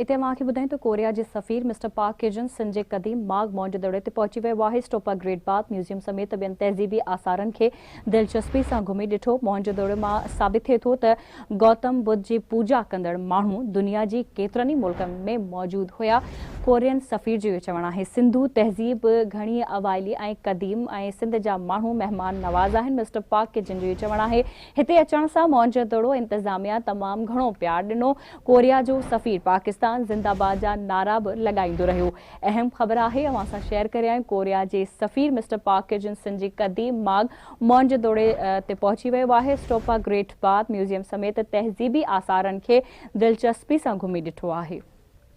اتي اوهان کي ٻڌايون ته ڪوريا جي سفير mister Park Ki Jun Sun جي قديم ماڳ مونجدڙي تي پهچي ويو آهي. اسٽوپا گريٽ باٿ ميوزيم سميت ٻين تهذيبي آثارن کي دلچسپي سان گهمي ڏٺو. مونجدڙي مان ثابت ٿئي ٿو ته گوتم ٻڌ جي پوڄا ڪندڙ ماڻهو دنيا جي ڪيترن ئي ملڪن ۾ موجود هيا. ڪورين سفير جو اهو چوڻ آهي. سنڌو تهذيب گهڻي اوائلي ۽ قديم ۽ سنڌ جا ماڻهو مهمان نواز آهن. مسٽر پارڪ ڪي جون جو اهو چوڻ آهي. هتي اچڻ سان مونجدڙو انتظاميا تمام گهڻو پيار ڏنو. ڪوريا جو سفير پاڪستان زنده باد جا نعرا به لڳائيندو رهيو. اهم خبر آهي اوهان سان شيئر ڪريان ڪوريا جي سفير mister Park Ki Jin Sun جي قديم ماڳ مونجدوڙي تي پهچي ويو آهي. اسٽوپا گريٽ باٿ ميوزيم سميت تهذيبي آثارن کي دلچسپي سان گهمي ڏٺو آهي.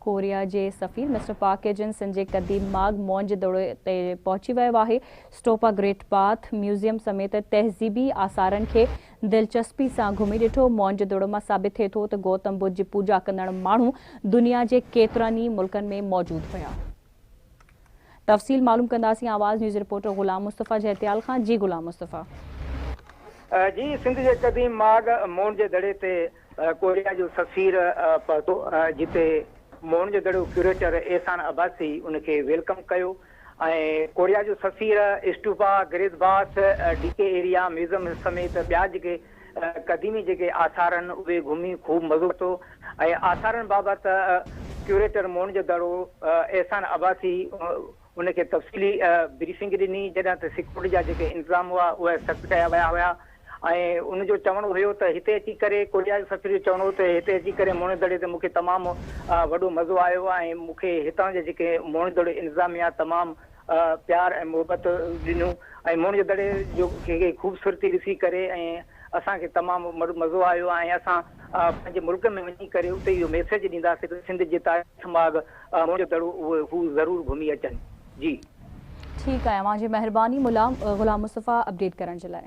ڪوريا جي سفير mister Park Ki Jin Sun جي قديم ماڳ مونجدوڙي تي پهچي ويو آهي. اسٽوپا گريٽ باٿ ميوزيم سميت تهذيبي آثارن کي دلچسپي سان گهمي ڏٺو. مونء جي دڙو مان ثابت ٿئي ٿو ته گوتم ٻڌ جي پوڄا ڪندڙ ماڻهو دنيا جي ڪيترن ئي ملڪن ۾ موجود هيا. تفصيل معلوم ڪنداسين آواز نيوز رپورٽر غلام مصطفيٰ جهتيال کان جي غلام مصطفيٰ. جي سنڌ جي قديم ماڳ مونء جي دڙي تي ڪوريا جو سفير پهتو جتي مونء جو دڙو ڪيوريٽر احسان عباسي ان کي ويلڪم ڪيو. ۽ ڪوريا جو سفير stupa, great bath, D K area, museum سميت ٻيا جيڪي قديمي جيڪي آثار آهن اهي گهمي خوب مزو ورتو ۽ آثارن بابت ڪيوريٽر مون جو دڙو احسان عباسي ان کي تفصيلي بريفنگ ڏني جڏهن ته سيڪيورٽي جا جيڪي انتظام هئا اهي سخت ڪيا ويا هيا. ۽ ان جو چوڻ هيو ته هتي اچي ڪري ڪوريا جي سفير جو چوڻ هو ته هتي اچي ڪري موهڻي دڙي تي مون کي تمام وڏو مزو آيو ۽ مون کي هتان جي جيڪي موهڻي دڙي انتظاميا تمام پيار ۽ محبت ڏنو ۽ موهڻي دڙي جو کي خوبصورتي ڏسي ڪري ۽ اسان کي تمام وڏو مزو آيو ۽ اسان پنهنجي ملڪ ۾ وڃي ڪري اتي اهو ميسيج ڏينداسين ته سنڌ جي تاريخ ماڳ موهڻي دڙو هو ضرور گهمي اچن جي. ٺيڪ آهي اوهان جي مهرباني ملا غلام مصطفيٰ اپڊيٽ ڪرڻ جي لاء.